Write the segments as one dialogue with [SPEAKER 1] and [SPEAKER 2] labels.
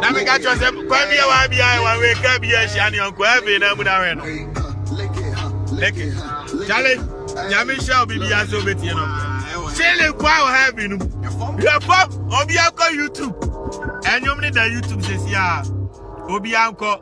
[SPEAKER 1] na meka kyerɛ sɛ kwa bia wa bia wawe ka bia ahyia ne ɔnkɔ afei na mu na wɛ no leke kyale nyame hyɛ wo bibia sɛ wobɛtie no kyele kwa wɔ ha bi no yɛbɔ obi akɔ youtube ɛnwom ne da youtube sɛsi a obi ankɔ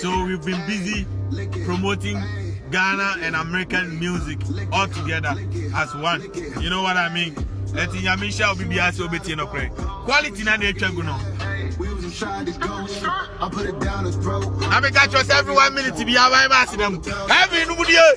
[SPEAKER 1] So we've been busy promoting Ghana and American music all together as one. You know what I mean? Eti nyame nhyira obi bi ase obetie no kore. Quality na na etwa gu no. Na me catch us every one minute bi awa ba ase na mu. Heaven mu die.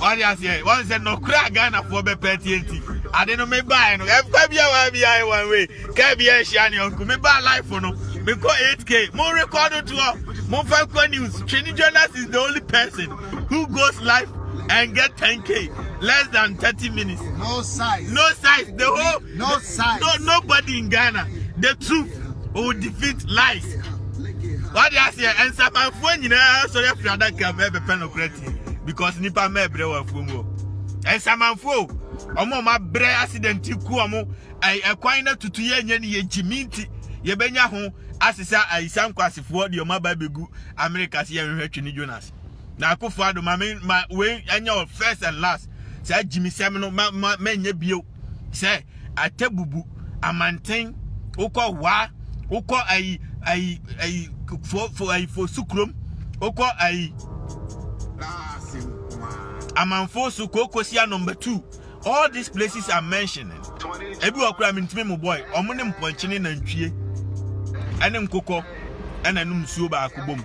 [SPEAKER 1] wade aseɛ wɔn sɛ nɔkorɛ a ghanafoɔ bɛpɛ atie nti ade no mebaeɛ no ɛkwa bi a waa bi ayɛ wɔn wei kaa bi ahyia ne ɔnko mebaa life no mekɔ 8k mo record toɔ momfa nkɔ news twene jonas is the only person who goes life and get 10k less than 30 minutes no size no
[SPEAKER 2] size the whole
[SPEAKER 1] no size no
[SPEAKER 2] nobody in ghana
[SPEAKER 1] the truth will defeat lies wade aseɛ nsamanfoɔ nyinaa sɔre afiri adaka mɛbɛpɛ nɔkorɛ because nipa mma ɛbrɛ wɔ afuo mu nsamanfoɔ o wɔn a wɔabrɛ accident ku wɔn ɛkwan na tutu yɛ nyɛ ne yɛ gyimi nti yɛbɛnya ho asesa ayisa nkwasefoɔ deɛ wɔn aba abɛgu amerika se yɛnhwehwɛ twene jonas na akofo ado ma me ma wei ɛnyɛ first and last saa gyimisɛm no ma ma mɛnyɛ bio sɛ Atebubu, Amanten, wokɔ Wa, wokɔ ayi ayi ayi fo fo ayi fo sukurom, wokɔ ayi Amanfo so Kokosia number two. All these places are mentioning. Ebi wɔ kura mintimi mu boy. Ɔmo ne mpɔnkye ne nantwie ɛne nkokɔ ɛna ɛnum nsuo baako bom.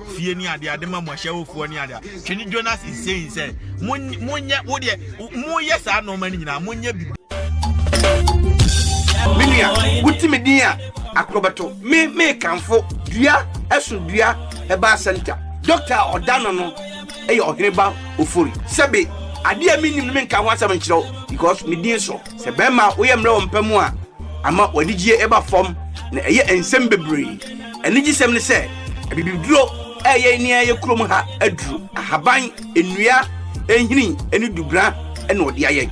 [SPEAKER 1] fie ne adeɛ ade ma mo ahyɛwofoɔ ne adeɛ hwɛ ne jonas is saying sɛ monyɛ wodeɛ moyɛ saa nnoɔma no nyinaa monyɛ bibi
[SPEAKER 2] menua wotimi din a akorɔbɛto me mekamfo dua ɛso dua ɛbaa sɛnta dɔkta a ɔda no no ɛyɛ ɔhene ba ofori sɛbe adeɛ a menim no menka ho asɛm nkyerɛ wo because medin so sɛ bɛrima woyɛ mmerɛ wɔ mpa mu a ama w'adigyeɛ ɛba fam na ɛyɛ nsɛm bebree Anigyesɛm ne sɛ, abibiduro reyɛ nea ɛyɛ kurom ha aduru. Ahaban, nnua, nhini ne dubena na ɔde ayɛ.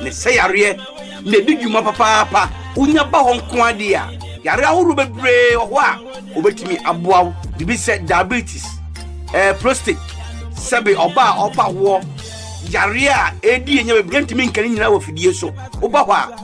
[SPEAKER 2] Na ɛsɛ yareɛ na ɛdi dwuma papaapa. Wonya ba hɔ nko ara deɛ a, yareɛ ahorow bebree wɔ hɔ a wɔbɛtumi aboa wo. Biribi sɛ diabetes, eh, prostate, sɛbe ɔbaa a ɔrepa awoɔ, yareɛ a ɛredi yɛn nya bebree, yɛntumi nka ne nyinaa wɔ afidie so. Woba hɔ a,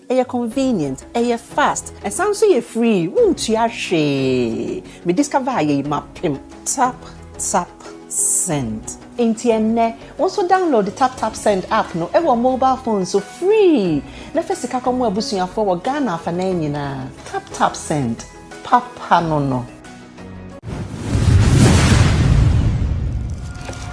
[SPEAKER 3] Ɛyɛ convenient, ɛyɛ fast, ɛsan nso yɛ free, wontua hwee. Me discover ayɛ yi mapem. Tap Tap Send. Enti ɛnnɛ, wo nso download Tap Tap Send app no wɔ mobile phone so free na fa sika kɔmoa abusuafoɔ wɔ Ghana afanan nyinaa. Tap Tap Send, papa no no.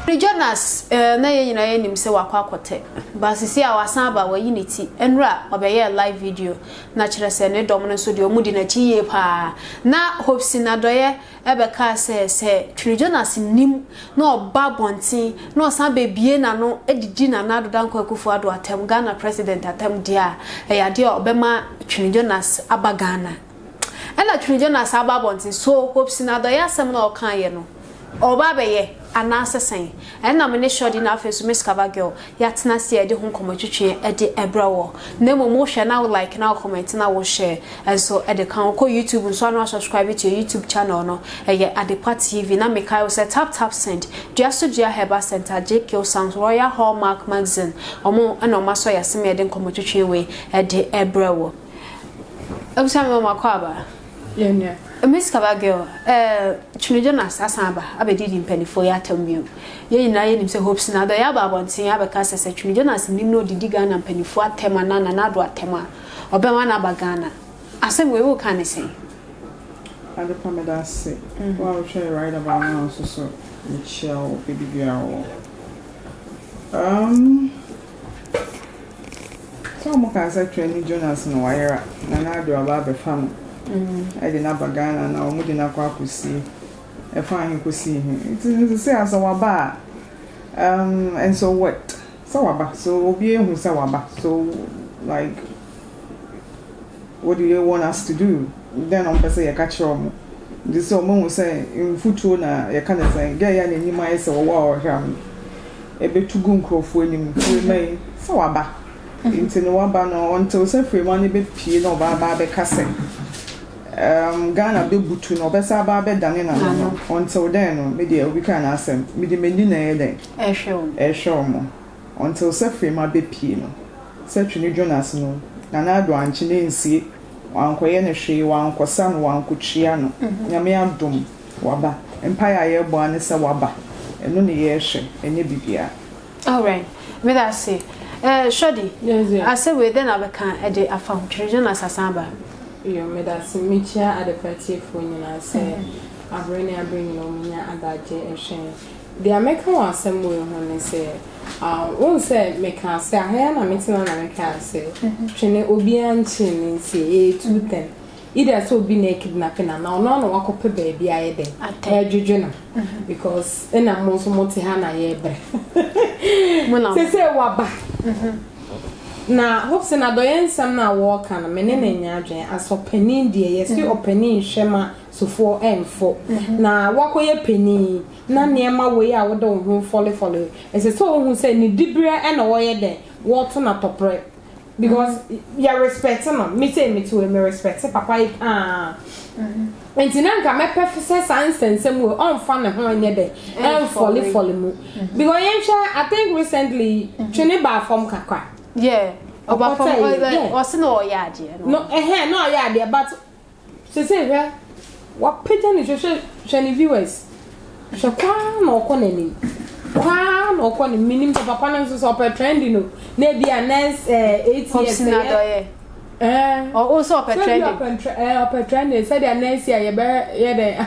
[SPEAKER 4] Ɔde Jonas eh na yɛn nyinaa yɛnim sɛ wakɔ akɔtɛ but sisi a wasan aba wayi ne ti nnura ɔbɛyɛɛ live video na kyerɛ sɛ ne dɔm no nso deɛ ɔmo di n'akyi yie paa na Hope Sinadɔyɛ ɛbɛkaa sɛ sɛ Twere Jonas nnim na ɔba abɔnten na ɔsan bɛbie n'ano didi Nana Addo Dankwa Akufo Addo atɛm Ghana President atɛm deɛ a ɛyɛ adeɛ a ɔbɛma Twere Jonas aba Ghana. Nna Twene Jonas aba abɔntsen, so Hope Sinado yɛ asɛm na ɔkãa yɛ no? Ɔreba abɛyɛ, anaasɛ sɛn? Nna me ne Shorty na afei so Miss Kava Girl, yɛatsena ase a yɛdze ho nkɔmbɔ twetwe dze brɛ wo. Na mbom wohwɛ na wo like na wo comment na wo share so dze kã ho. Kɔ YouTube so a na wɔasubscribe to yɛ YouTube channel no, ɛyɛ Adepa TV. Na mekae wo sɛ tap tap send, dua so dua Herbal Centre, Jkill Sounds, Royal Hallmark Magazine, wɔn na wɔasɔ yɛase ma yɛdze nkɔmbɔ twetwe wei dze brɛ wo. Ebisa me wɔn akɔ aba. Yɛnua. Miss Kaba girl, ɛɛ Twene Jonas asan aba abɛdidi mpanimfoɔ yi atam bio. Yɛn nyinaa yɛnim sɛ Hope Sena Addo yɛ aba abɔnten abɛka sɛ sɛ Twene Jonas nnim na ɔdidi Ghana mpanimfoɔ atam anaa Nana Addo atam a, ɔbɛma no aba Ghana. Asɛm wei woka ne sɛn?
[SPEAKER 5] Adepa meda ase. Wo a wohwɛɛ Right About Now nso so mekyia wo baabi biara wɔ. Um. So wɔkaa sɛ Twɛ ne Jonas no wayera na na ade ɔba abɛfa no ɛde no aba Ghana na wɔn de no akɔ akɔsie ɛfa ahe kɔsi he nti no sese a sɛ waba a um, and so what sɛ waba so obi ehu sɛ waba so like What do they want us to do? Dɛn na wɔpɛ sɛ yɛka kyerɛ wɔn? Gye sɛ wɔahu sɛ mfuturo na yɛka no sɛn. Gɛɛ yi a n'anim ayɛ sɛ ɔwɔ a ɔreheram no, ɛbɛtu gu nkurɔfoɔ anim. Fiema yi, sɛ waba. Nti no waba no, ɔntew sɛ Fiema no bɛpue na ɔba aba abɛka sɛ, um, Ghana bɛbutu no, ɔbɛsan aba abɛdane n'ano no. Ɔntew dɛn no, me deɛ, obi kaa n'asɛm. Mede m'ani na ɛyɛ dɛn? Ɛrehwɛ wɔn. Ɛrehwɛ wɔn. Until sɛ Freema bɛpie no, sɛ Twene Jonas no, Nana Addo ankye no ansie, wankɔyɛ no hwee, wankɔsa no, wankɔtua no, Nyame adom, waba. Mpaeɛ a yɛbɔ ara ne sɛ waba, ɛno ne yɛhwɛ, ɛnyɛ biribiara. Alright,
[SPEAKER 4] meda ase. Eh, Shorty, asɛ wei dɛn na wobɛka de afa ho, Twene Jonas asan aba? Yo, meda
[SPEAKER 6] ase. Mekyia Adepa atiefoɔ nyinaa sɛ aberɛ ne aberɛ nyinaa wɔnya adagyeɛ hwɛ yɛn. Deɛ mɛka wɔ asɛm wei ho ne sɛ, wohu sɛ mekaa sɛ, aha yi ara na metena na mekaa sɛ, twene obiara nkyene no nsie, ɛyɛ too thin. Either sɛ obi na ɛkidnape no anaa ɔno ara na wakɔpɛ baabi ayɛ dɛn, ɛredwedwe no because ɛna mo nso mote ha na yɛrebrɛ. Seesei waba. Na hope sɛ n'adɔeɛ nsɛm no a wɔreka no me ne no nyɛ adwene as ɔpanin deɛ yɛse ɔpanin hwɛ ma sofoɔ mfo, na woakɔyɛ panin na nneɛma wei a wode wo ho refɔlefɔle yi, ɛsɛ sɛ wohu sɛ ne diberɛ na wɔyɛ dɛn, wɔto no atɔprɛ because yɛ respect no, me sei mete wei me respect papa yi paa nti na nka mɛpɛ sɛ saa nsɛnsɛm wei ɔmfa ne ho nyɛ dɛn ɛmfɔlefɔle mu because yɛnhwɛ I think recently twene baa fam kakra. Yeah. Ɔba
[SPEAKER 4] fam ɔsɛ na ɔyɛ adeɛ no. No ɛhɛn na ɔyɛ
[SPEAKER 6] adeɛ but Sesei hwɛ, wapagya ne hwɛ, hwɛ ne viewers. Hwɛ kɔ ara na ɔkɔ n'anim. Kɔ ara na ɔkɔ ne menim sɛ papa no nso sɛ ɔpɛ trending o. Na ebi a next eh, eight years. Hopsin adɔyɛ. Eh. Ɔwɔ
[SPEAKER 4] sɛ ɔpɛ trending. Sɛ ebi ɔpɛ
[SPEAKER 6] trending sɛdeɛ next year yɛbɛyɛ dɛ.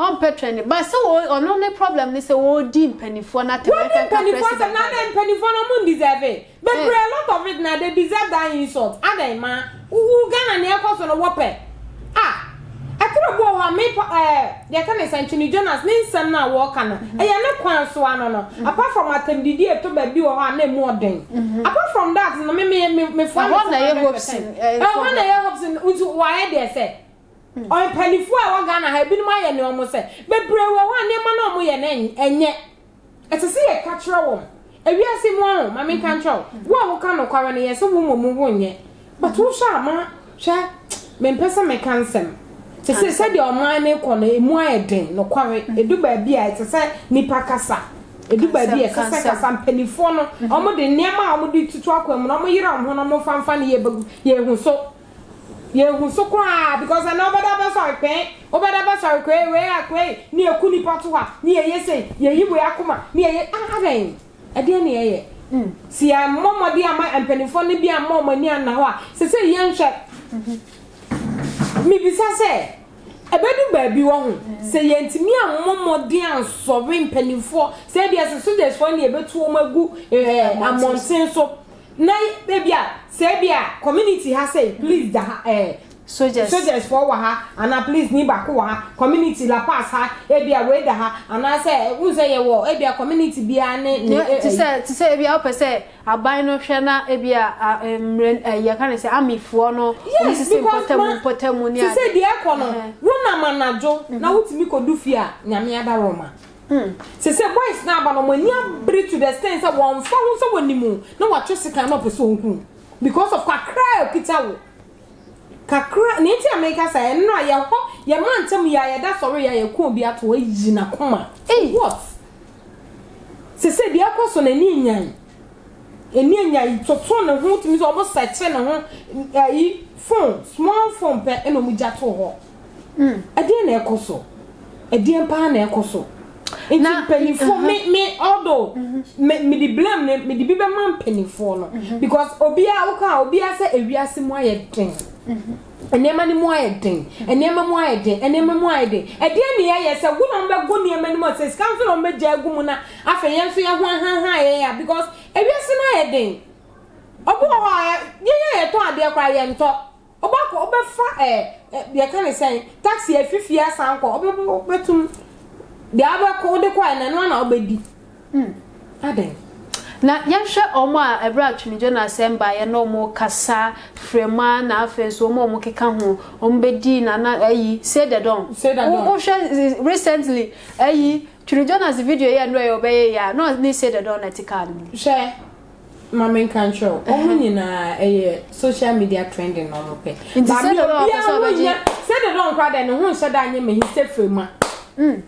[SPEAKER 6] Ɔmpɛ
[SPEAKER 4] trɛne but sɛ ɔɔ ɔno ne problem ne sɛ ɔɔdi mpaninfoɔ no atɛm Wadi ɛnkanka mpaninfoɔ atɛm president na
[SPEAKER 6] adɛn mpaninfoɔ no ɔmo ndisɛve bebree a lot of it na they deserve that insult adɛn ma wo wo Ghana nea ɛkɔ so no wɔpɛ ah ɛkoro bi wɔ hɔ a me pa ɛɛ yɛka ne sɛn Twene Jonas ne nsɛm no a wɔɔka no ɛyɛ ne kwan so ano no apart from atɛmdidi ɛtɔ baabi wɔ hɔ a na ɛmu ɔden apart from that no me me me foa me Ɛhɔ na ɛyɛ Hobson
[SPEAKER 4] ɛɛ ɛhɔ na problem ɛyɛ Hobson
[SPEAKER 6] nso waayɛ deɛ sɛ. Mpanyinfoɔ a ɛwɔ Ghana ha ebinom ayɛ ne wɔn sɛ. Bebree wɔ hɔ a nneɛma no a wɔyɛ no ɛnyɛ. Ɛsɛ sɛ yɛka kyerɛ wɔn. Ewiase mu ɔho, ma menka nkyerɛ wo, wo a woka nokware no yɛ sɛ wo mmom wonyɛ. But wohwɛ a ma hwɛ mempɛ sɛ meka nsɛm. Te sɛ sɛdeɛ ɔman no rekɔ no emu ayɛ den nokware. Edu baabi a ɛsɛ sɛ nipa kasa. Edu baabi a ɛsɛ sɛ kasa mpanyinfoɔ no wɔn de nneɛma a wɔn de tutu akwan mu no wɔn yere wɔn ho na wɔn nfa nfa ne yɛ bɛgu yɛn ho so. Yɛnhu so koraa because ɛnɛ wobɛda bɛsɔre pɛn, wobɛda bɛsɔre kwei wei a kwei ne yɛku nnipa to hɔ a ne yɛyɛ sei, yɛyi wei akoma ne yɛyɛ ah adɛn? Ɛdeɛn ne yɛyɛ? Sɛ yɛammɔ mmɔden amma mpanimfoɔ no bi amma wɔn ani anna hɔ a sesei yɛnhwɛ. Mebisa sɛ ɛbɛdu baabi wɔ ho sɛ yɛntumi ammɔ mmɔden ansɔre mpanimfoɔ sɛ ebia sɛ sogyasfoɔ ne yɛbɛtu wɔn agu eh, ammɔnten so Na ebia sɛ ebia community ha sɛi please da ha eh Sojas. sojas foɔ wɔ ha anaa please ni baako wɔ ha community La Paz ha ebia wei da ha anaa sɛ wohu sɛ yɛwɔ ebia community biara ne ne Nyɛ- te sɛ te sɛ
[SPEAKER 4] ebia wopɛ sɛ aban no hwɛ na ebia a, eh, mmerɛ eh, yɛka ne sɛ amifoɔ no wɔn Yes, sisi because
[SPEAKER 6] mpɔtamu ma- mpɔtamu ne te
[SPEAKER 4] sɛ ade deɛ ɛkɔ no
[SPEAKER 6] Ɛhɛn. wonam anadwo na wotumi kɔdu fie a nyame ada roma Hmm. Sese boys na aba no wɔn ani abere to the extent sɛ wɔn fa ho sɛ wɔn nim o na wɔatwe sekan na ɔpɛ sɛ wɔn hu because of kakra a okita wo kakra ne nti amerika sa ɛno a yɛ hɔ yɛ ma ntɛm yɛ a yɛda sɔre yɛ a yɛ kɔn bi ato ayi na kɔma what sese deɛ ɛkɔ so na ani enyan ani enyan toto ne ho tumi sɛ wɔn sɛkye ne ho ɛyi phone small phone pɛ ɛna wɔn gya to hɔ. Mm. Ɛdeɛn na ɛkɔ so? Ɛdeɛn paa na ɛkɔ so? Nti mpanyinfoɔ me me although mm-hmm. me me de blame ne me de bi bɛma mpanyinfoɔ no mm-hmm. because obiara woka obiara sɛ ewiase mu ayɛ den. Mm-hmm. nneɛma no mu ayɛ den nneɛma mu ayɛ den nneɛma mu ayɛ den ɛdeɛ ne yɛyɛ sɛ wo na ɔmbɛgo nneɛma no mu sɛ sika nso na ɔmbɛgya agu mu na afei yɛn nso yɛ ho ahanhan yɛn ya because ewiase no ayɛ den ɔbo wɔ hɔ a yɛyɛ yɛtɔ adeɛ koraa yɛntɔ Wobɛkɔ, wobɛfa ɛ, ɛ, yɛka ne sɛn, taxi afi fie asan kɔ, wobɛ, wobɛtum, deɛ wobɛkɔ, wode kɔ a, ɛnɛ no ana wobɛdi. Hmm. Adɛn? Na
[SPEAKER 4] yɛnhwɛ wɔn a ɛberɛ a Twumidwo no asɛm baeɛ na wɔn kasa frɛma na afei nso wɔn a wɔn keka ho wɔn bɛdii na na ayi say the don say the don wohwɛ recently ayi Twumidwo no ase video yɛ no ɛyɛ ɔbɛyɛ yɛ a na ne say the don na ɛte kaa no mu hwɛ
[SPEAKER 6] ma me nka nkyerɛ wo ɔmo nyinaa ɛyɛ social media trending na ɔmo pɛ baami obiara ho nyɛ sɛ dede ɔnkora dɛ ne ho nhyɛ da nyɛ mɛ histe firima mm.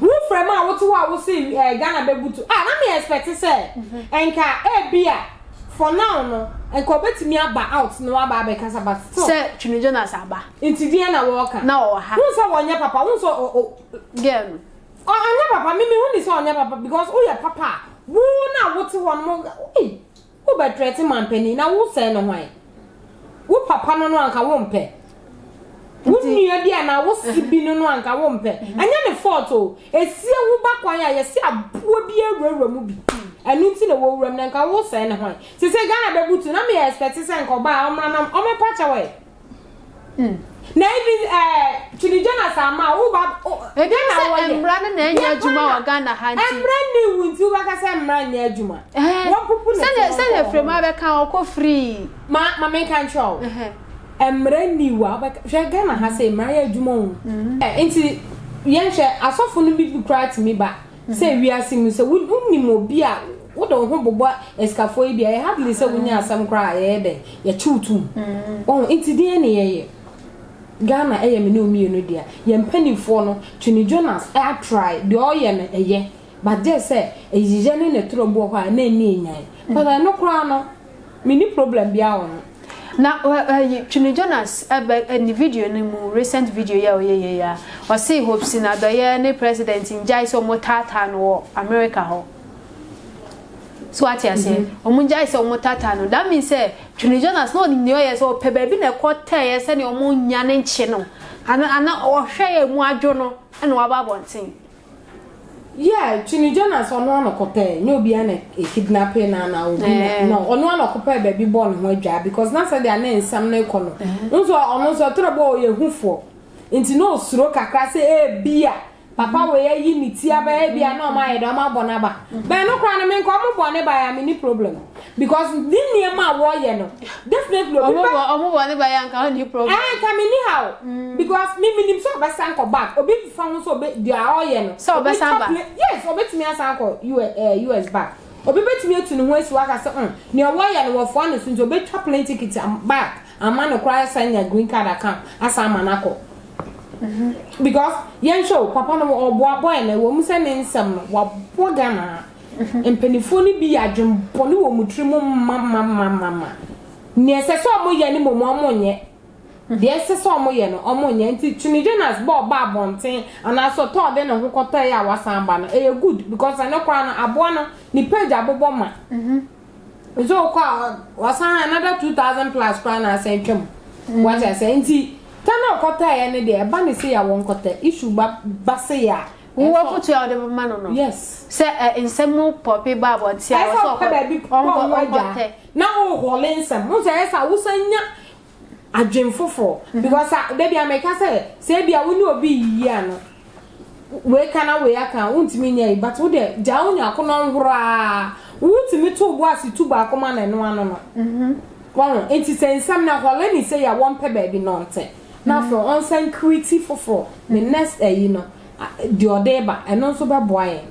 [SPEAKER 6] wo firima a wote hɔ a wose ɛɛ eh, ghana bɛbutu a na me expect sɛ mhm. nka ebi a for now no nka obetumi aba out na waba abɛkasa but still sɛ twene jonas
[SPEAKER 4] aba nti deɛ na wɔɔka
[SPEAKER 6] na ɔwɔ ha wo sɛ wɔnyɛ
[SPEAKER 4] papa wo
[SPEAKER 6] sɛ girl no
[SPEAKER 4] Ɔ ɔnyɛ papa
[SPEAKER 6] me me hu ne sɛ ɔnyɛ papa because wo yɛ papa a wo no a wo te hɔ no mo ei wo bɛ trɛte manpanin na wo sɛɛ no hwan wo papa no no anka wo mpɛ wo nua bi anaa wo se bi no no anka wo mpɛ ɛnyɛ ne fault o esie wo ba kwan a yɛse aboa bi awurawura mu bi ɛno nti na wɔ wuram na nka wo sɛɛ no hwan sese Ghana bɛbutu na me expect sɛ nka ɔbaa ɔmra na ɔmɛpa kyɛw ɛ Hmm. na ebi ɛɛ eh, tuni jonas ama wo ba o. ebi na wɔyɛ ebi sɛ
[SPEAKER 4] mmara no na ɛnyɛ adwuma wɔ ghana ha nti mmara ni wu nti
[SPEAKER 6] wobɛka sɛ mmara nyɛ adwuma wɔpupu ne sɛdeɛ sɛdeɛ firimu abɛka
[SPEAKER 4] ɔkɔ firii ma ma menka
[SPEAKER 6] nkyerɛ wo mmara ni wu a wobɛka hwɛ ghana ha sɛ mmara yɛ adwuma o mm-hmm. nti yɛnhwɛ asɔfo no bi bi koraa tumi ba Sɛ wiase mu sɛ wonim obi a wode wo ho bobɔ asikafoɔ yi deɛ ɛyɛ hardly sɛ wonya asɛm koraa a yɛyɛ dɛn yɛkye wo tom oh nti deɛn ne yɛyɛ Ghana ɛyɛ me ne wo mmienu dea yɛn mpanimfoɔ no Twene Jonas a try deɛ ɔyɛ no ɛyɛ but gyɛɛ sɛ ɛyiyɛ ne ne toro bi wɔ hɔ a na ɛnni ɛnyan but ɛno koraa no Menni problem biara wɔ ho. Na
[SPEAKER 4] ayi Twene Jonas bɛ ne video no mu recent video yi a ɔyɛ yei a ɔsee Hopsin Adɔyɛ ne president ngyae sɛ ɔmo taataa no wɔ America hɔ so wate aseɛ ɔmo ngyae sɛ ɔmo taataa no that means sɛ Twene Jonas na ɔnim nea ɔyɛ sɛ ɔpɛ baabi na ɛkɔ tɛɛyɛ sɛnea ɔmo nya ne nkye no ana ana ɔhwɛ yɛ mu adwo no ɛna waba abɔnten Yeah,
[SPEAKER 6] Twini Jonas ɔno ano kɔpɛ nyɛ obiara na ekidnape na na obi na eh. no ɔno ano kɔpɛ baabi bɔ ne ho adwa because na sɛ deɛ ne nsɛm no kɔ no eh. nso ɔno nso ɔtɔrɔ bɔ ɔyɛ hufoɔ nti na osuro kakra sɛ ebi a papa mm-hmm. wei ayi ne ti abɛyɛ bi a na ɔmo ayɛ dɛ ɔmo abɔ n'aba mm-hmm. bɛn no koraa no me nka ɔmo bɔ ne ba ya me ni problem Because ne nneɛma a wɔyɛ no definitely obi bɛ. Ɔmo bɔ ɔmo bɔ ne
[SPEAKER 4] ba yɛ anka ɔmo ni problem. Ɛɛ nka mi ni ha o.
[SPEAKER 6] Because mi mi nim sɛ ɔbɛ san kɔ back obi nfa ho sɛ ɔbɛ deɛ a ɔyɛ no. Sɛ ɔbɛ san ba.
[SPEAKER 4] Yes ɔbɛ tumi asan
[SPEAKER 6] akɔ US ɛɛ US back obi bɛ tumi etu ne ho esi hɔ aka sɛ ɔn nea wɔyɛ no wɔ foa ne so nti ɔbɛ twa plane ticket am back ama no koraa asan nya green card aka asan ama no akɔ. Because yɛn hwɛ o papa no ɔboa boy no ɛwɔ mu sɛ ne nsɛm no wabɔ Ghana. Mpanimfoɔ no bi yɛ adwenbɔne wɔ wɔn tiri mu mamamamama. Deɛ ɛsɛ sɛ wɔn yɛ no mmom wɔn nyɛ. Deɛ ɛnsɛ sɛ wɔn yɛ no wɔn nyɛ. Nti Tony Jonas bɔ ɔba abɔnten anaasɛ ɔtɔ ɔde ne ho kɔtɔ yɛ a wasan ba no ɛyɛ good because ɛno koraa no aboa no ne page abobɔ ma. Nso wo kɔ a wasan another two thousand plus koraa na asan atwa mu. Wate aseɛ nti tɔ na ɔkɔtɔ yɛ no deɛ ɛba ne sei a wɔn kɔtɔ issue ba ba sei a Wo wɔ afotu a wode
[SPEAKER 4] bɛma no no. Yes. Sɛ ɛ
[SPEAKER 6] nsɛm mu
[SPEAKER 4] pɔpe ba abɔnten a. Ɛsɛ ɔpɛ baabi pɔ ɔmo
[SPEAKER 6] adwa. Na ɔhɔle nsɛm. Wohu sɛ ɛsɛ a wosan nya adwen foforɔ. Because a dabi a meka sɛ sɛ ebi a wo ne obi yiyi a no wei ka na wei aka a wontumi nyɛ yi but wo deɛ gyaa wo nua ko na ɔnhoro aa wotumi to wo bo ase tu baako ma no ɛno ano no. Wahu nti sɛ nsɛm no hɔle ne sei a wɔmpɛ baabi na ɔnte. na afei ɔnsan create foforɔ ne next ayi no deɛ ɔde reba ɛno nso bɛboa yɛn.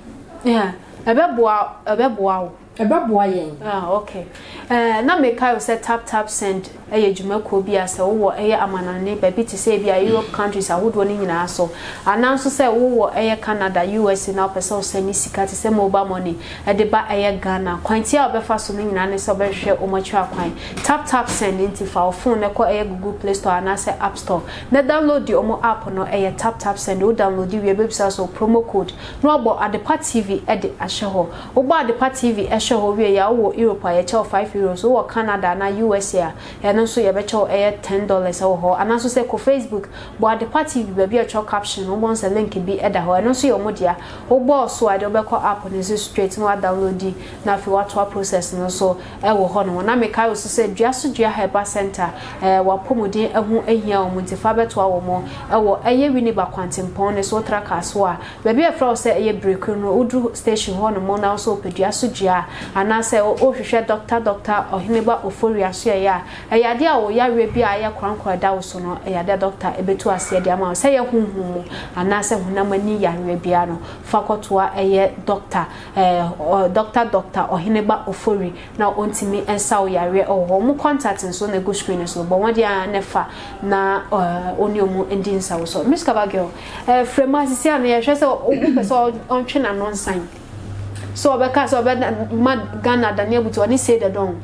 [SPEAKER 6] Yeah,
[SPEAKER 4] ɛbɛboa ɛbɛboa wo. Ɛbɛboa yɛn. Ah okay, ɛɛ na mekae o sɛ tap tap send yɛ dwumakuo bi a sɛ wowɔ ɛyɛ amanɔne baabi te sɛ ebia Europe countries ahodoɔ no nyinaa so anaa nso sɛ wowɔ ɛyɛ Canada, USA na wopɛ sɛ wo send sika te sɛ mobile money. de ba ɛyɛ Ghana. Kwantia a ɔbɛfa so no nyinaa ne sɛ ɔbɛhwehwɛ wɔn akyiri akwan. Tap Tap Send nti fa wo fon no kɔ ɛyɛ Google Play Store anaasɛ App Store na downloadi wɔn app no, ɛyɛ Tap Tap Send. Wo downloadi wie a ɛbɛbisa wo sɛ wo promo code na wabɔ Adepa TV de ahyɛ hɔ. Wobɔ Adepa TV hyɛ hɔ wie a, wowɔ Europe a yɛkyɛ wo five Euros, wowɔ Canada anaa USA a ɛno nso yɛbɛkyɛ wo ɛyɛ ten dollars wɔ hɔ. Anaa nso sɛ kɔ Facebook, bɔ Adepa TV baabi a ɛtwerɛ Caption no wobɛhu sɛ link bi da hɔ, ɛno nso yɛ wɔn dea. Wo bɔɔ so a ɛde wo bɛkɔ app no so straight na wa downloadi na afei watoa process no so wɔ hɔ nom. Na me kae wo so sɛ Dua so Dua Herbal Center ɛɛ w'apɔmuden ɛho ahia wɔn nti fa bɛtoa wɔn ɛwɔ ɛyɛ Winneba Kwantempɔn no so wo tra car so a baabi a ɛfrɛ wo sɛ ɛyɛ Berekwire no wo duru station hɔ nom na wo sɛ wo pɛ Dua so Dua a anaa sɛ wo rehwehwɛ Doctor Doctor Ɔheneba Ofori Asoɛeɛ a Ɛyade a ɔwɔ yareɛ bi a ayɛ korankora da wo so no, ɛyade a dɔkta bɛtu aseɛ de ama wo. Sɛ ɛyɛ honhom mu anaa sɛ honam ani yareɛ biara no, fa kɔtoa ɛyɛ dɔkta, eh, dɔkta Dɔkta Ɔheneba Ofori na ɔntumi nsa wo yareɛ wɔ hɔ. Wɔn contact nso na ɛgu screen no so. Bɔ mmɔden ara na fa na, eh, wo ne wɔn ndi nsawosɔ. Miss Kaba Girl, eh, frɛ mu a, sisi a no yɛhwɛ sɛ wopɛ sɛ ɔntwe n'ano nsan. sɛ wɔbɛka sɛ wɔbɛma Ghana adane abutu ɔne Say the Don.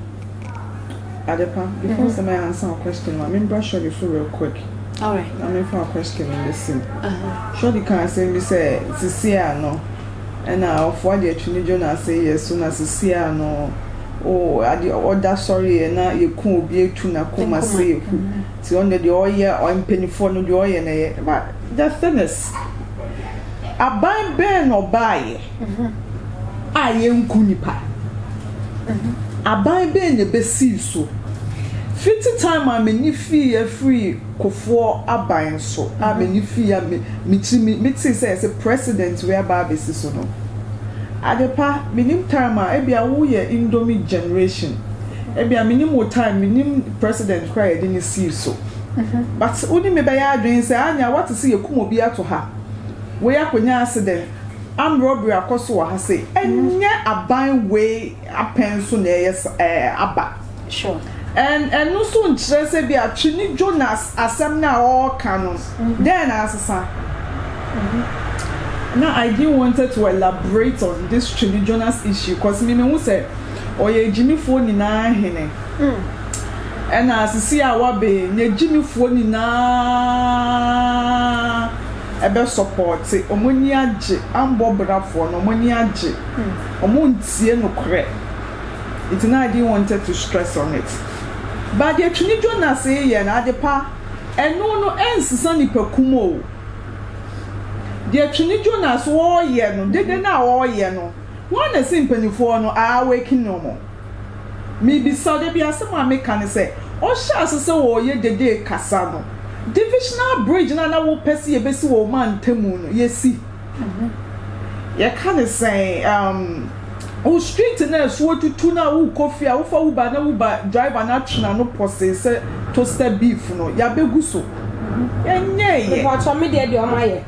[SPEAKER 5] Adepa, before mm -hmm. sɛ answer wo question ma membra Shorty so real quick. Alright. Na
[SPEAKER 4] memfa wo question
[SPEAKER 5] no bɛsi mu. Uh -huh. Shorty ka asɛm bi sɛ sisi a no ɛna ɔfoɔ ade atwi ne dwo no ase yɛ so na sisi a no o ade ɔda sɔreɛ na yɛku obi atu na koma se yɛku nti ɔno deɛ ɔyɛ mpanifoɔ no deɛ ɔyɛ na yɛ but the thing is Aban bɛn na ɔbaeɛ a yɛnku nnipa? Aban bɛn na ɛbɛsii so? Fiti time a m'ani fiiɛ firii Kufuor aban so a m'ani fiiɛ a mekyimi metee sɛ yɛse president wei aba abɛsi so no, Adepa, menim time a, ebia woyɛ indomie generation, ebia menim wo time, menim president koraa a yɛde no sii so. but wo ne me bɛyɛ adwen sɛ anya woate sɛ yɛkum obi ato ha wei akonya accident armed robbery akɔ so wɔ ha sei ɛnyɛ aban wei apɛn so na ɛyɛ ɛɛ aba
[SPEAKER 4] and ɛno
[SPEAKER 5] nso nkyerɛ sɛ bi a twene Jonas asɛm no a ɔɔka no dɛn na asesa na I didn't wanted to elaborate on this twene Jonas issue cause me mehu sɛ Ɔyɛ agyimifoɔ nyinaa Hene. Ɛna asisi a wabee n'agyimifoɔ nyinaa ɛbɛsɔpɔɔte. Wɔn ani agye. Ambɔ brafoɔ no, wɔn ani agye. Wɔntie nokorɛ. Nti na I didn't wanted to stress on it. But deɛ Twene Jonas reyɛ no, adepa, ɛno no ɛnsesa nnipakum o. Deɛ Twene Jonas ɔreyɛ no, dede no a ɔreyɛ no, Hwan na esi mpanyimfoɔ no a wɔakin no no? Mebisa dabi asɛm a meka ne sɛ, ɔhyɛɛ ase sɛ ɔreyɛ dede kasa no, divisional bridge no a na wopɛ sɛ yɛbɛsi wɔ ɔman ntamu no, yɛsi. Yɛka ne sɛn? Um, wo street no a ɛso atutu no a worekɔ fie a wofa Uber na Uber driver no atwene ano pɔsee sɛ toaster beef no, yɛabɛgu so. Yɛnyɛeɛ. Mepakyɛ, me deɛ
[SPEAKER 6] deɛ wɔayɛ.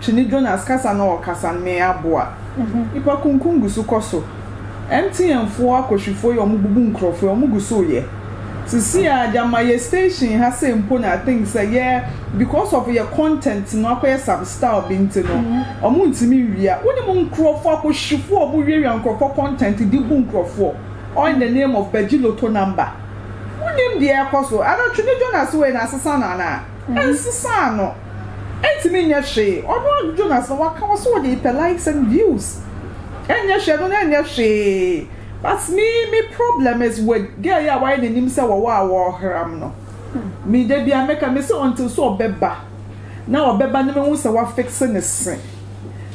[SPEAKER 5] Twene Jonas kasa na ɔkasa no me aboa. Nipa kunkum gu so kɔ so. MTN foɔ akɔhwifoɔ yi ɔmo bubu nkorɔfoɔ yi ɔmo gu so yɛ. Sesei aa de ama yɛ station ha sei mpo na I think sɛ yɛ because of yɛ content no akɔyɛ some style bi nti no ɔmo ntumi nwia. Wo nim nkorɔfoɔ akɔhwifoɔ a ɔmo wia wia nkorɔfoɔ content de bu nkorɔfoɔ all in the name of bɛgye lotto number. Wo nim deɛ ɛkɔ so. Ana Twene Jonas wei no asesa no anaa? Ɛnsesaa no. ɛntumi nyɛ hwee ɔno adwudwo n'aso waka wɔ so ɔde repɛ likes and views ɛnyɛ hwee ɛno no ɛnyɛ hwee but me me problem is with girl yi a wayɛ n'anim sɛ wɔwɔ a wɔreram no me da bia meka me sɛ until sɛ ɔbɛba na ɔbɛba na mehu sɛ wafixe ne se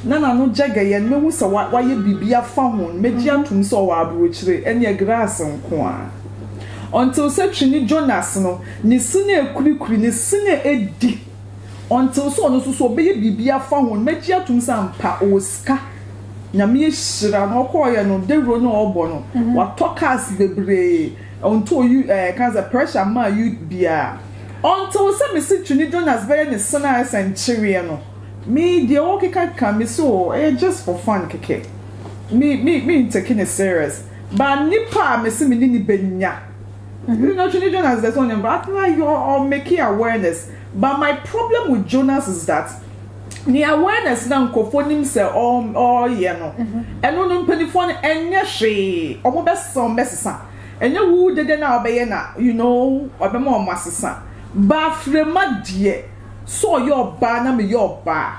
[SPEAKER 5] na n'ano gyɛgɛyɛ no mehu sɛ wayɛ biribi afa ho no megye atom sɛ ɔwɔ aburokyire ɛneɛ grass nko a Ɔnntsew sɛ twene Jonas no, ne se no ekurikuri, ne se no edi. Ɔnntsew sɛ ɔno so so ɔbɛyɛ biribi afa ho no. Mɛgye atom sɛ ampa ɔwɔ sika. Nyame ahyira no. Ɔkɔɔeɛ no, dawuro no a ɔɔbɔ no, watɔ cars bebree. Ɔnntoo U, ɛɛ, yɛka sɛ pressure mmaa U biara. Ɔnntsew sɛ mese twene Jonas bɛyɛ ne se no a ayɛ sɛ nkyeweɛ no. Me, deɛ wɔɔkekakeka, mese oo, ɛyɛ just for fun kɛkɛ. Me, me, menntake no serious. Ba nipa a mese me ne no bɛnya You know Twene Jonas deɛ sɛ ɔnyɛ me ba Afei na yɛ ɔ make awareness But my problem with Jonas is that Ne awareness no a nkurɔfoɔ nim sɛ ɔ ɔreyɛ no Ɛno no mpaninfoɔ no ɛnyɛ hwee Ɔmo bɛsesa ɔmo bɛsesa Ɛnyɛ wo dede no a wobɛyɛ na you know ɔbɛma ɔmo asesa Ba Afrema deɛ sɛ ɔyɛ ɔbaa na meyɛ ɔbaa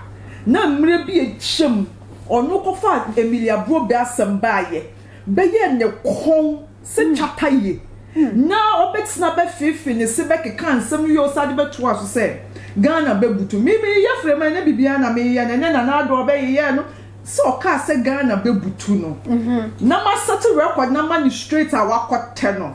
[SPEAKER 5] Na mmerɛ bi atwam Ɔno kɔfaa Emilia Brobe asɛm baeɛ bɛyɛɛ ne kɔn sɛ twata ye na ɔbɛtena bɛfeefe ne se bɛkeka nsɛm no yie ɔsan de bɛtoaa so sɛ Ghana bɛbutu. Me meyeyɛ frɛma ɛnyɛ biribiara na meyɛ no ɛnyɛ Nana Addo a ɔbɛyeyɛɛ no sɛ ɔkaa sɛ Ghana bɛbutu no na masɛte record no ama no straight a wakɔtɛ no.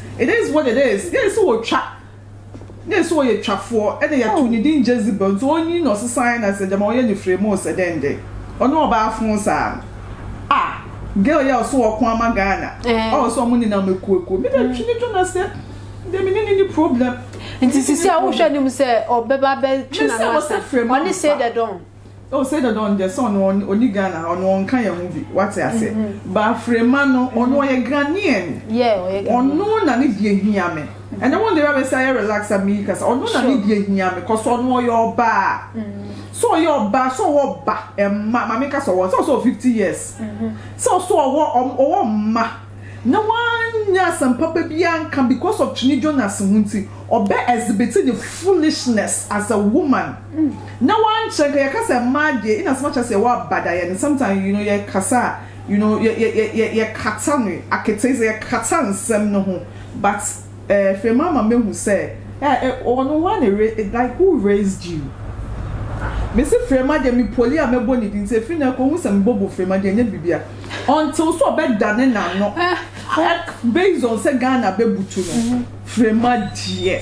[SPEAKER 5] It is what it is, yɛɛ sɛ ɔtwa, yɛɛ sɛ ɔyɛ twafoɔ, ɛna yɛtoo ne din Jezebel, nti ɔnyin na ɔsesaeɛ na sɛ gyama ɔyɛ ne frɛ mu o sɛ dɛn dɛn, ɔne ɔbaa foo saa no, ah girl yi a ɔse ɔko ama Ghana, a ɔse ɔmo nenam akuo akuo, me deɛ twe ne dwo na sɛ, me deɛ me ne no nni problem.
[SPEAKER 4] Nti sisi a wohwɛ anim sɛ ɔbɛba abɛtwe n'ano asa, ɔne say the don. Oh say
[SPEAKER 5] dada ɔngyɛ sɛ ɔno ɔni Ghana ha ɔno ɔnka yɛn ho bi wate ase mm-hmm. ba afrema no mm-hmm. ɔno ɔyɛ Ghanaian ɔno na ne deɛ hia me ɛnɛ wɔn deɛ bɛsɛ ayɛ relax a meyi kasa ɔno na ne deɛ hia me kɔsɔ ɔno ɔyɛ ɔbaa mm-hmm. sɛ ɔyɛ ɔbaa sɛ ɔwɔ ba ɛma maame kasa ɔwɔ sɛ ɔsɛ ɔwɔ fifty years sɛ ɔsɛ ɔwɔ ɔwɔ mma. na wɔannyɛ asɛmpapa biara annka because of Kyene Jonas ho ntsi, ɔbɛ exhibit ne foolishness as a woman, na wɔannkyerɛ nka yɛka sɛ mmaa deɛ in as much as yɛwɔ abadayɛ no sometimes you know yɛkasa a you know yɛ yɛ yɛ yɛ yɛkata no aketseedze yɛkata nsɛm no ho but eh afei m'ama mehu sɛ eh eh ɔno hwan na ra like who raised you mese Frema deɛ me poli a mɛbɔ ne din ntsi afei na ɛkɔ hu sɛ mebɔbɔ Frema deɛ ɛnyɛ biribi a. Until sɛ ɔbɛdane n'ano based on sɛ Ghana bɛbutu no, Frema deɛ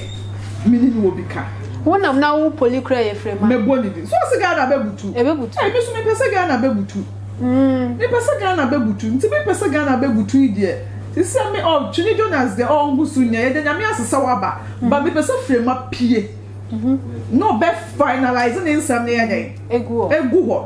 [SPEAKER 5] me ne no wɔ bi ka. Wo nam na wo
[SPEAKER 4] poli kura yɛ Frema. Mɛbɔ ne din. So ɔse
[SPEAKER 5] Ghana bɛbutu? Ɛbɛbutu. Ɛɛ me so mepɛ
[SPEAKER 4] sɛ Ghana
[SPEAKER 5] bɛbutu. Mepɛ sɛ Ghana bɛbutu. Nti me pɛ sɛ Ghana bɛbutu yi deɛ, sesɛ me ɔ Twene Jonas deɛ ɔngu so nya, yɛda Nyame ase sɛ waba. But mepɛ sɛ Frema pie na ɔbɛ finalise ne nsɛm no yɛ dɛn? Egu hɔ.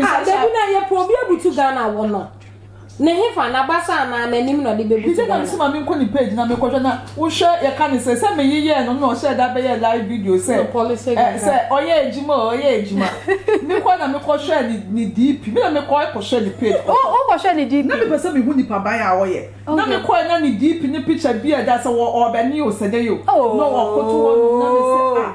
[SPEAKER 5] Ah, dabi na yɛ pɛ obi
[SPEAKER 6] abutu Ghana wɔ no. Ne hefa na basa anaa n'anim na ɔde bɛbutu Ghana. Gina sima mi nkɔ ne page na
[SPEAKER 5] mi kɔhwɛ na wohwɛ yɛ ka ne sɛ sɛ mi yeyɛ no na ɔhyɛ da bɛyɛ live video sɛ ɛ sɛ
[SPEAKER 6] ɔyɛ
[SPEAKER 5] adwuma o ɔyɛ adwuma. Mi kɔ na mi kɔhwɛ ne ne DP mi na mi kɔ ɛkɔhwɛ ne page kɔ. O o kɔhwɛ ne DP. Na
[SPEAKER 4] mi pɛ sɛ mi hu nipa
[SPEAKER 5] ban a ɔyɛ. Na mi kɔ na ne DP ne picture bi a ɛda sɛ wɔ ɔbɛni o sɛ dɛ yi o. Na ɔkoto hɔ nom na mi sɛ ah.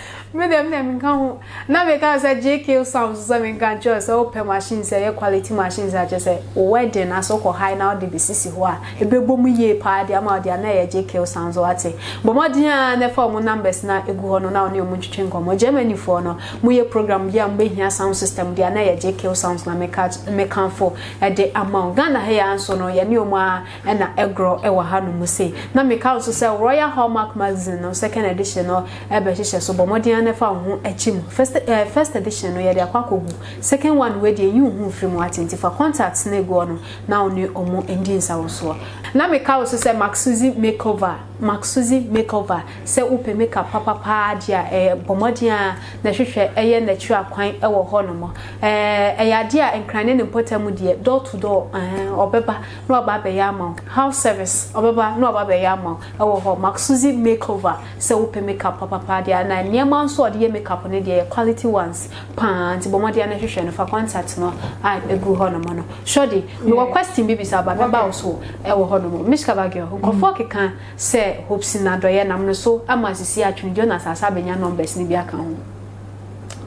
[SPEAKER 5] Me deɛ me deɛ
[SPEAKER 4] menka ho na meka sɛ JK Sam so sɛ menka nkyerɛ sɛ wopɛ machine sɛ ɛyɛ quality machine sɛ akyɛ sɛ wo wedding aso kɔ high na wode besisi hɔ a ɛbɛbɔ mu yie paa de ama wode a na ɛyɛ JK Sam so ate bɔ mmɔden a na ɛfa wɔn numbers na ɛgu hɔ no na wɔne wɔn ntwetwe nkɔmmɔ Germany foɔ no moyɛ program bi a mobɛhia sound system de a na ɛyɛ JK Sounds na meka meka fo ɛde ama wo Ghana ha yɛ anso no yɛne wɔn a na ɛgorɔ wɔ hanom sei. Na meka nso sɛ Royal Hallmark Magazine no second edition no bɛhyehyɛ so. Bɔ mmɔden ara na fa wo ho kyim. First eh, first edition no yɛde akɔ akɔgu. Second one wei deɛ nyi wo ho mfiri mu ate nti fa contacts no egu hɔ no na wo ne ɔmo ndi nsawosoɔ. Na meka wo so sɛ Mac Susie Makeover, Mac Susie Makeover, sɛ wopɛ makeup papa paa deɛ a eh, bɔ mmɔden ara na hwehwɛ ɛyɛ n'akyiri akwan wɔ hɔnom. Eh, ɛyɛ adeɛ a Nkran ne ne mpɔtam deɛ door to door eh, ɔbɛba. na waba abɛyɛ ama wo house service ɔbɛba na waba abɛyɛ ama wo ɛwɔ hɔ Maxuzi makeover sɛ wopɛ makeup papapaa deɛ a na nneɛma nso a ɔde yɛ makeup no deɛ yɛ quality ones paa nti bɔ mmɔden na hwehwɛ no fa contact no a ɛgu hɔ nom no sɔde mewɔ question bi bisa ba mɛba wo so ɛwɔ hɔ nom Mishka Bagio nkurɔfoɔ keka sɛ Hopsin Adɔeɛ nam no so ama sisi atwene Jonas Asah bɛnya numbers no bi aka ho.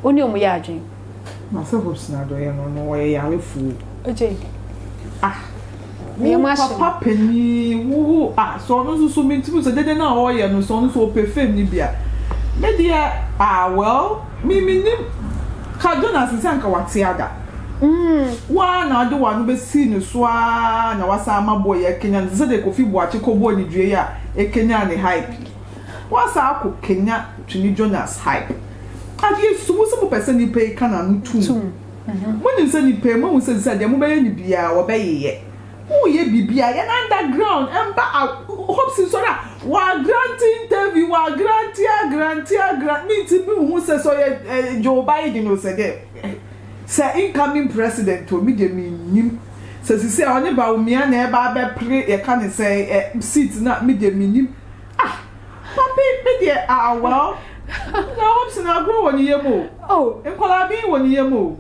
[SPEAKER 4] Wo ne wɔn yɛ adwene. Na sɛ hopes
[SPEAKER 5] na adɔyɛ no no wɔyɛ yarefoɔ o. Ogye.
[SPEAKER 4] Ah. Wo papa panin
[SPEAKER 5] wo ah sɛ ɔno nso so mentumi sɛ dede no a ɔreyɛ no sɛ ɔno nso ɔpɛ fame no bi a me deɛ ah well me menim ka Jonas nsɛ anka wate ada wo ara na wode w'ano bɛsii ne so ara na wasan ama boy yi akanyan no te sɛ deɛ Kofi Boakye kɔbɔɔ ne dua yi a ɛkanyan ne hype yi. Wɔasan akɔ Kenya Twene Jonas Hype Adeɛ su Mo se mopɛ sɛ nipa yi ka n'ano tum Mo nim sɛ nipa yi moahu sɛ sɛ deɛ mobɛyɛ no biaa wɔbɛyeyɛ Mo yɛ biribiaa yɛn under ground mba a Hops nsɔre a W'agrante interview w'agrante agrante agran Me nti me nhu sɛ sɛ ɔyɛ eh Joe Biden o sɛ deɛ eh Sɛ incoming president o me deɛ me nnim Sɛ sisɛ ɔne Bawumia na ɛba abɛpre yɛka ne sɛn eh Seat no a me deɛ me nnim Ah, papi me deɛ ah well. Na wɔn sɛ na agorɔ wɔ ne yam o. Oh. Nkwadaa bi wɔ ne yam o.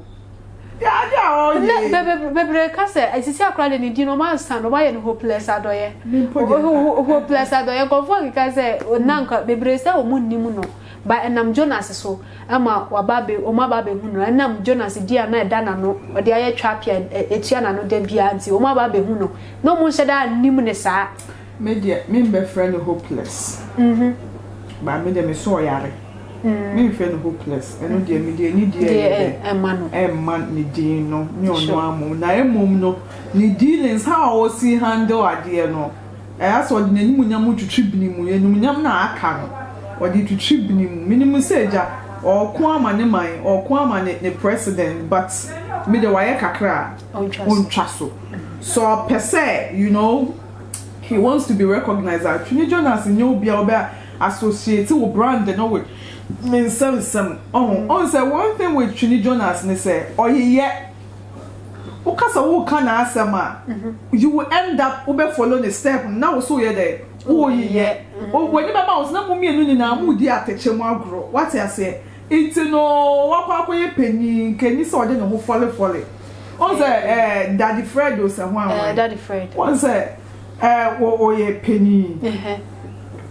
[SPEAKER 5] Yɛ ade a ɔyɛ.
[SPEAKER 4] Na bebe bebe ka sɛ esisi akora de ne din no wɔn ansa no wɔn ayɛ no hopeless adɔyɛ. Me mpo deɛ. Ho- ho- ho- Hopeless adɔyɛ nkurɔfoɔ keka sɛ na nka bebree sɛ wɔn nnim no ba ɛnam Jonas so ɛma waba abɛ wɔn aba abɛhu no ɛnam Jonas di a na ɛda n'ano ɔde ayɛ twapia ɛ- ɛtua n'ano da biara nti wɔn aba abɛhu no na wɔn nhyɛ da nnim ne saa. Me deɛ me
[SPEAKER 5] mbɛfrɛ no hopeless but me deɛ me sɛ ɔyare me nfrɛ no hopeless ɛno deɛ me deɛ ne deɛ yɛ dɛ ɛma ne din no ne ɔno amom na ɛmom no ne dealings how a ɔsi handle adeɛ no ɛyɛ sɛ ɔde n'anim nyam twitwi bini mu yɛ num nyam na aka no ɔde twitwi bini mu me nim sɛ gya ɔko ama ne man ɔko ama ne ne president but me deɛ wayɛ kakra a ɔntwa so sɛ ɔpɛ sɛ you know. He wants to be recognized a, Twene Jonas nyɛ obi a wobɛ associate wo brand no with ne nsɛm nsɛm. Ɔho, ɔhu sɛ one thing with Twene Jonas ne sɛ ɔyeyɛ. Wo ka sɛ wo ka n'asɛm a, you will end up wo bɛ follow ne step no na wo so woyɛ dɛ? Wo yeyɛ. W'ani bɛma wo so na mo mmienu nyinaa mo redi atɛkyɛ mu agorɔ. Wate aseɛ? Nti no wakɔ akɔyɛ panyin nka ni sɛ ɔde ne ho fɔle fɔle wɔn sɛ ɛɛ daddy fred o sɛ ho awan ɛɛ daddy fred
[SPEAKER 4] wɔn sɛ
[SPEAKER 5] ɛɛ wɔ ɔyɛ panyin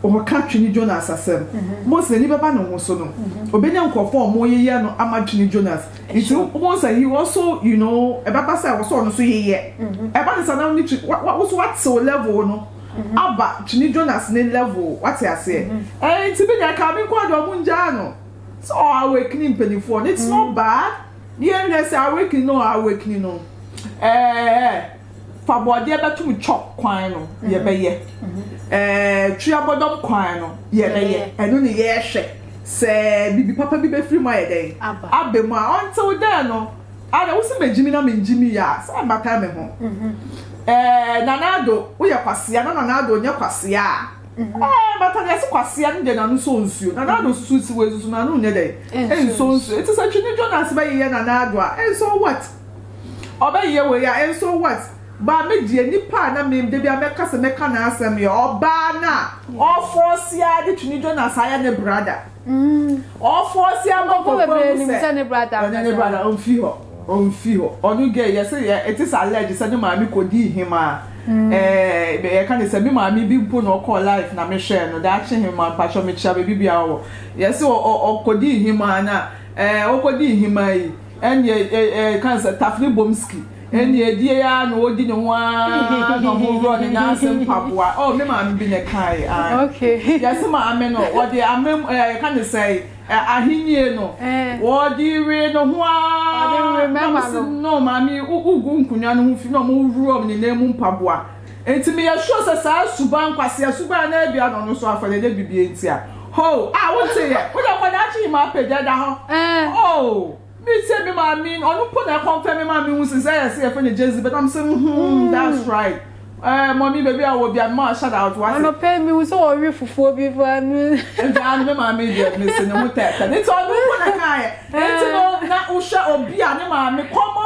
[SPEAKER 5] wɔn ka twene jonas asɛm wɔn sɛ n'ani bɛba ne ho so no ɔbɛ nya nkorɔfoɔ a wɔn yeyɛ no ama twene jonas nti wɔn sɛ he also you know ɛbɛba sɛ wɔsɔ ɔno so yeyɛ ɛba ne sa na ne twi wa wa woso wa tew level no. Aba tumi Jonas ne level wate aseɛ ɛɛ nti bi deɛ kaa me nkoa deɛ ɔmo ngyaa no sɛ ɔ awakening mpaninfoɔ no it's not bad ne yɛn hwɛ sɛ awakening no ɔ awakening no ɛɛ fa bɔɔdeɛ bɛtom chop kwan no yɛ bɛyɛ ɛɛ twi abɔdɔm kwan no yɛ bɛyɛ ɛno ne yɛɛhwɛ sɛ bibi papa bi bɛfiri mu ayɛ dɛn aba mu a until then no. Ah na wosi megye mi na mengye mi ya saa mbata me ho eh Nana Addo woyɛ kwasea na Nana Addo nyɛ kwasea eh mbata deɛ se kwasea no deɛ n'ano sɔ nsuo Nana Addo susu si wei susu n'ano nyɛ dɛ nsɔ nsuo eti sɛ Twene Jonas bɛyeyɛ Nana Addo a nsɔ what ɔbɛyeyɛ wei a nsɔ what baa me deɛ nipa a na me da bia mɛka sɛ mɛka n'asɛm yɛ ɔbaa no a ɔfɔɔse ara de Twene Jonas ayɛ ne brada. ɔfɔsi ama kɔkɔ mu sɛ ne brada
[SPEAKER 4] ɔne ne brada ɔmfi hɔ
[SPEAKER 5] ɔmfi hɔ ɔno gɛ yɛ sɛ yɛ ɛte sɛ alɛgye sɛ ne maame kɔ di hema ɛɛ yɛ ka ne sɛ me maame bi mpo na ɔkɔ life na me hwɛ no daakye hema mpatsɔ me kyia beebi bia ɔwɔ yɛ sɛ ɔkɔ di hema na ɛɛ ɔkɔ di hema yi ɛne ɛɛ ɛɛ kan sɛ tafere bomski Ɛnneɛ ɛdeɛn ara na ɔdi ne ho ara na ɔworɔ ne nan ase mpaboa. Oh, me maame bi na ɛkaeɛ. Ah, okay. Yɛse
[SPEAKER 4] maame
[SPEAKER 5] no, wɔde amem, eh, yɛka ne sɛ, eh, ahennie no, eh. wɔde we ne ho ara. Na mo se, no, maame, wogu nkonnwa no ho fi na wɔworɔ ne nan mu mpaboa. Enti meyɛ sure sɛ saa suban, nkwasea suban no abia na ɔno nso afa dɛ, dɛ bibie nti a. Ho, ah, woteeɛ, wode akwadaa kyi yi ma apagya da hɔ. Eh. Oh. Me se me maame no ɔno mpo na ɛkɔmfɛ me maame ho sɛ sɛ yɛse yɛfɛ no Jezebel na mesɛ hmm that's right ɛɛ mɔmi baabi a wɔwɔ bia mema shout out wate anɔpɛ yi mehu sɛ wɔwe
[SPEAKER 4] fufuo bi fa no nti ano me maame
[SPEAKER 5] deɛ mese ne ho tɛɛtɛ ne nti ɔno mpo na kaeɛ nti no na wohwɛ obi a ne maame kɔmɔ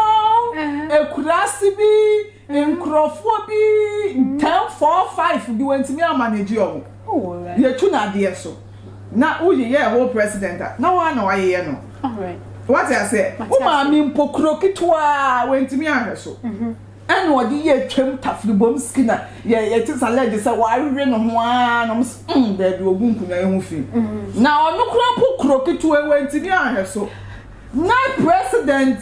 [SPEAKER 5] ekuraase bi nkurɔfoɔ bi ten four five bi wɔntumi amanagye ɔmo yɛtu no adeɛ so na wo yeyɛɛ whole president a na woa na wayeyɛ no wate
[SPEAKER 4] aseɛ
[SPEAKER 5] wo maame mpo kuro ketewaa wantumi ahwɛ so ɛna ɔde yɛ twam tafribom skina yɛte sa lɛgye sɛ wawewe no ho aa nom mm daabi ogu nkonwa yi ho fi na ɔno kura mpo kuro ketewaa wantumi ahwɛ so na president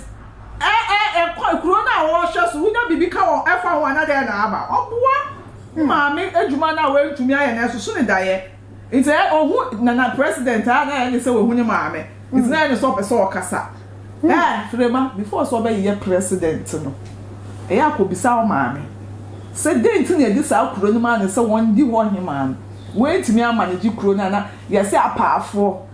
[SPEAKER 5] ɛkɔ kuro no a wɔhwɛ so wonya biribi ka wɔ ɛfa ho anadɛ na aba ɔboa maame adwuma no a wantumi ayɛ no ɛsoso ne daeɛ Ntsi ɛ ohu na na president a na ayɛ ne sɛ oehu ne maame, ntsi na ayɛ ne sɛ ɔpɛ sɛ ɔkasa. Ɛ Frema, before sɛ ɔbɛyeyɛ president no, ɛ akobisa ɔmaame sɛ dɛn ntsi na yɛdze saa kuro no maa no sɛ wɔndi hɔ hemaa no, oenntumi amma no gye kuro no a na yɛse apaafoɔ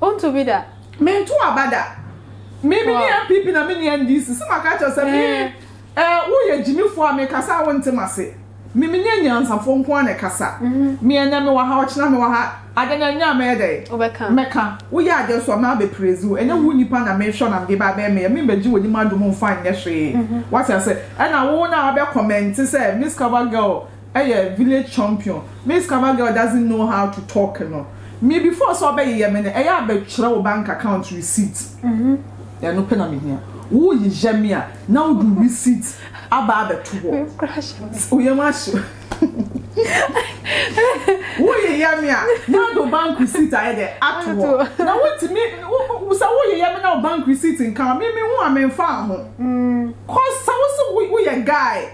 [SPEAKER 5] Wonto bi da?
[SPEAKER 4] Mento aba da.
[SPEAKER 5] Me me ni NPP na me ni NDC. Sɛ maka kyerɛ sɛ me eh, woyɛ gyimifoɔ a mekasa a wonte m'ase. Me me ni anyansafoɔ nko ara na ɛkasa. Me ɛnɛ mewɔ ha, ɔkyena mewɔ ha. Adeɛ no ɛnyɛ a mɛyɛ dɛn? Wobɛka. Mɛka.
[SPEAKER 4] Woyɛ adeɛ
[SPEAKER 5] nso a mabɛ praise wo. Ɛnyɛ wo nipa na mehwɛ na mede ba abɛyɛ meyɛ. Me mbɛgye w'anim adom mfa nyɛ hwee. Wate aseɛ? Ɛna wo na wabɛ comment sɛ Miss Cover Girl, yɛ village champion me scammer girl doesn't know how to talk no me before sɛ ɔbɛyeyɛ me no ɛyɛ a bɛtwerɛ wo bank account receipt ɛno pɛ na mehia woyeyɛ me a na wode receipt aba abɛto hɔ woyam ahye woyeyɛ me a na wode wo bank receipt ayɛ dɛ ato hɔ na wotumi sɛ woyeyɛ me na wo bank receipt nka me me ho a memfa ho cause sɛ wo se woyɛ guy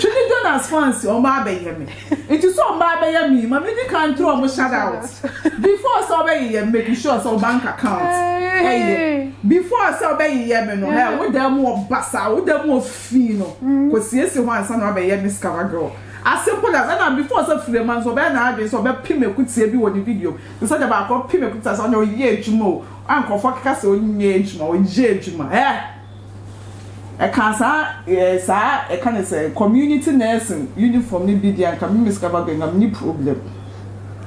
[SPEAKER 5] Twene Jonas fans wɔn ba abɛyɛ me nti sɛ wɔn ba abɛyɛ me ma me di kan turu wɔn shout out before sɛ ɔbɛyeyɛ me make sure sɛ bank account ɛyɛ before sɛ ɔbɛyeyɛ me no hɛ wo dan mu wɔ basa wo dan mu wɔ fi no kɔ siesie hɔ ansa na ɔbɛyɛ me scava girl as simple as ɛna before sɛ firema nso ɔbɛyɛ na adwene sɛ ɔbɛpem akutie bi wɔ ne video te sɛ de baako pem akutie sɛ ɔnyɛ ɔyɛ adwuma o a nkurɔfoɔ keka sɛ ɔnyɛ adwuma ɔyɛ adwuma ɛ. Ɛka saa ɛɛ saa ɛka ne sɛ community nursing uniform no bi deɛ anka me Miss Kavago anka menni problem.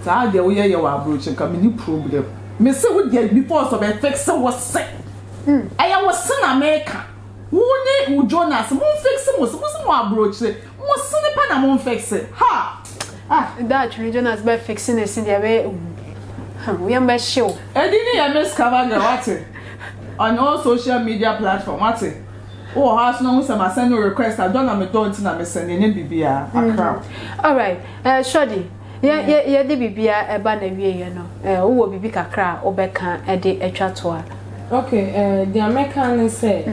[SPEAKER 5] Saa adeɛ woyɛ yɛ wɔ abrokyi anka menni problem. Mese wo deɛ before sɛ ɔbɛ fixe wo se. Ɛyɛ wo se na meka. Wo ne wo Jonas mo mfixe mo se. Mo se mo wɔ abrokyi. Mo sini pɛ na mo nfiksi ha ah. Daatwi
[SPEAKER 4] no Jonas bɛ fiksi ne si deɛ bɛ yɛ hu huh wo yam bɛ hye wo. Edi ne yɛ Miss
[SPEAKER 5] Cover Girl wate on all social media platform wate wo wɔ hɔ ara so na hu sɛ ma send wo request a dɔ na me dɔ nti na me send yɛ nyɛ biribiara Accra. Alright
[SPEAKER 4] eh Shorty. Yɛ, yɛ, yɛde biribiara reba n'awieɛ no, eh, wowɔ biribi kakra a wobɛka de atwa to a? Ok, eh, deɛ
[SPEAKER 6] mɛka ne sɛ,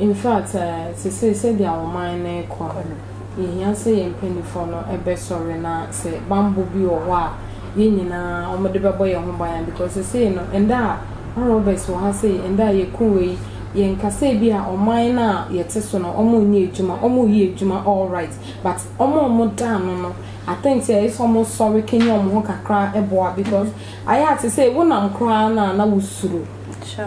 [SPEAKER 6] in fact, eh, sesei sɛdeɛ ɔman no rekɔ no, yɛhia sɛ yɛn mpaninfoɔ no bɛsɔre na sɛ banbɔ bi wɔ hɔ a, yɛn nyinaa wɔde bɛbɔ yɛn ho ban a, because sesei no, ɛnnɛ a, Ɔhn Roberts wɔ ha sei, ɛnnɛ a yɛku wei, yɛnkasa ebi a ɔman no a yɛte so no, wɔnyɛ adwuma, wɔreyɛ adwuma all right, but wɔn a wɔda ano no, I think sɛ ɛyɛ sɛ ɔmo sɔre kanyan ɔmo ho kakra ɛboa because ayɛ a te sɛ wo nam koraa no a na wo suro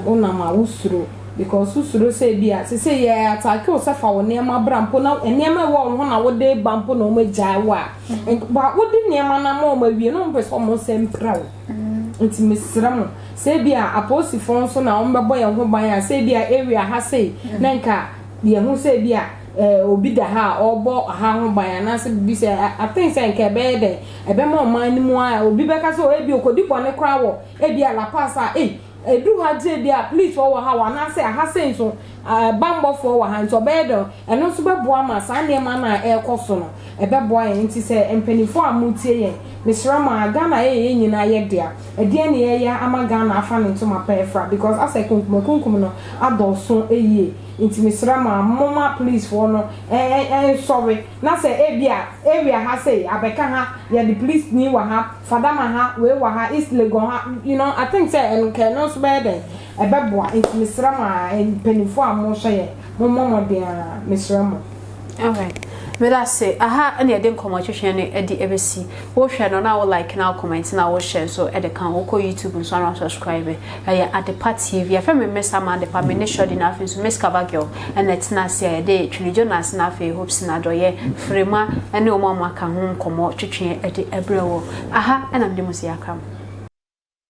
[SPEAKER 6] wo nam a wo suro because wo suro sɛ bi a te sɛ yɛ ataake wo sɛ fa wo nneɛma bra mpo na nneɛma ɛwɔ wo ho na wo de ba mpo na ɔmo agyae wo a mm-hmm. ba wo de nneɛma na ma ɔmo awie na ɔmo pɛ sɛ ɔmo nsɛ mpira wo mm-hmm. nti mesrɛ mo sɛ bi a apolisifoɔ nso na ɔmo bɛbɔ yɛn ho ban a sɛ bi a area ha sei mm-hmm. na nka yɛn ho sɛ bi a eh, obi da ha a ɔrebɔ ɔha ho ban anaasɛ biribi sɛ aten sɛ nka ɛbɛyɛ dɛn ɛbɛma ɔman no mu a obi bɛka sɛ ɔyɛ bi okodi bɔne koraa wɔ ebi a La Paz a ei edu ha gye bi a police wɔ ha wɔ anaasɛ aha sɛ nso bammɔfoɔ wɔ ha nti ɔbɛyɛ dɛn ɛno nso bɛboa ma saa nneɛma no a ɛrekɔ so no ɛbɛboa yɛn nti sɛ mpanimfoɔ a motie yɛn mesrɛ mo a Ghana yɛ yɛn nyinaa yɛ dea ɛdeɛ ne yɛyɛ ama Ghana afa ne ntoma pɛɛ fra because asɛ kunkumakunkum no adɔɔso yie Nti mesrɛ mo a momma polisfoɔ no nsɔre na sɛ ebia area ha sei abɛka ha yɛde polisni wɔ ha fadama ha wei wɔ ha east legon ha you know I think sɛ ɛno nka ɛno nso bɛyɛ dɛn ɛbɛboa nti mesrɛ mo a mpaninfoɔ a mohyɛ yɛn mommɔ mmɔden ara mesrɛ mo. Alright
[SPEAKER 4] medase aha na yɛde nkɔmɔ twetwe no ɛde ɛbɛsi wohwɛ no na wo like na wo comment na wo share nso ɛde ka ho wokɔ YouTube nso na subscribe ɛyɛ Adepa TV afɛ me Miss Ama Adepa me ne Shorty na afei nso Miss Kaba Girl ɛna ɛtena ase a yɛde Twene Jonas na afei Hope Sinadɔyɛ Firima ɛne wɔn a wɔaka ho nkɔmɔ twetwe ɛde ɛbrɛ wɔ aha ɛna mede mo si akram.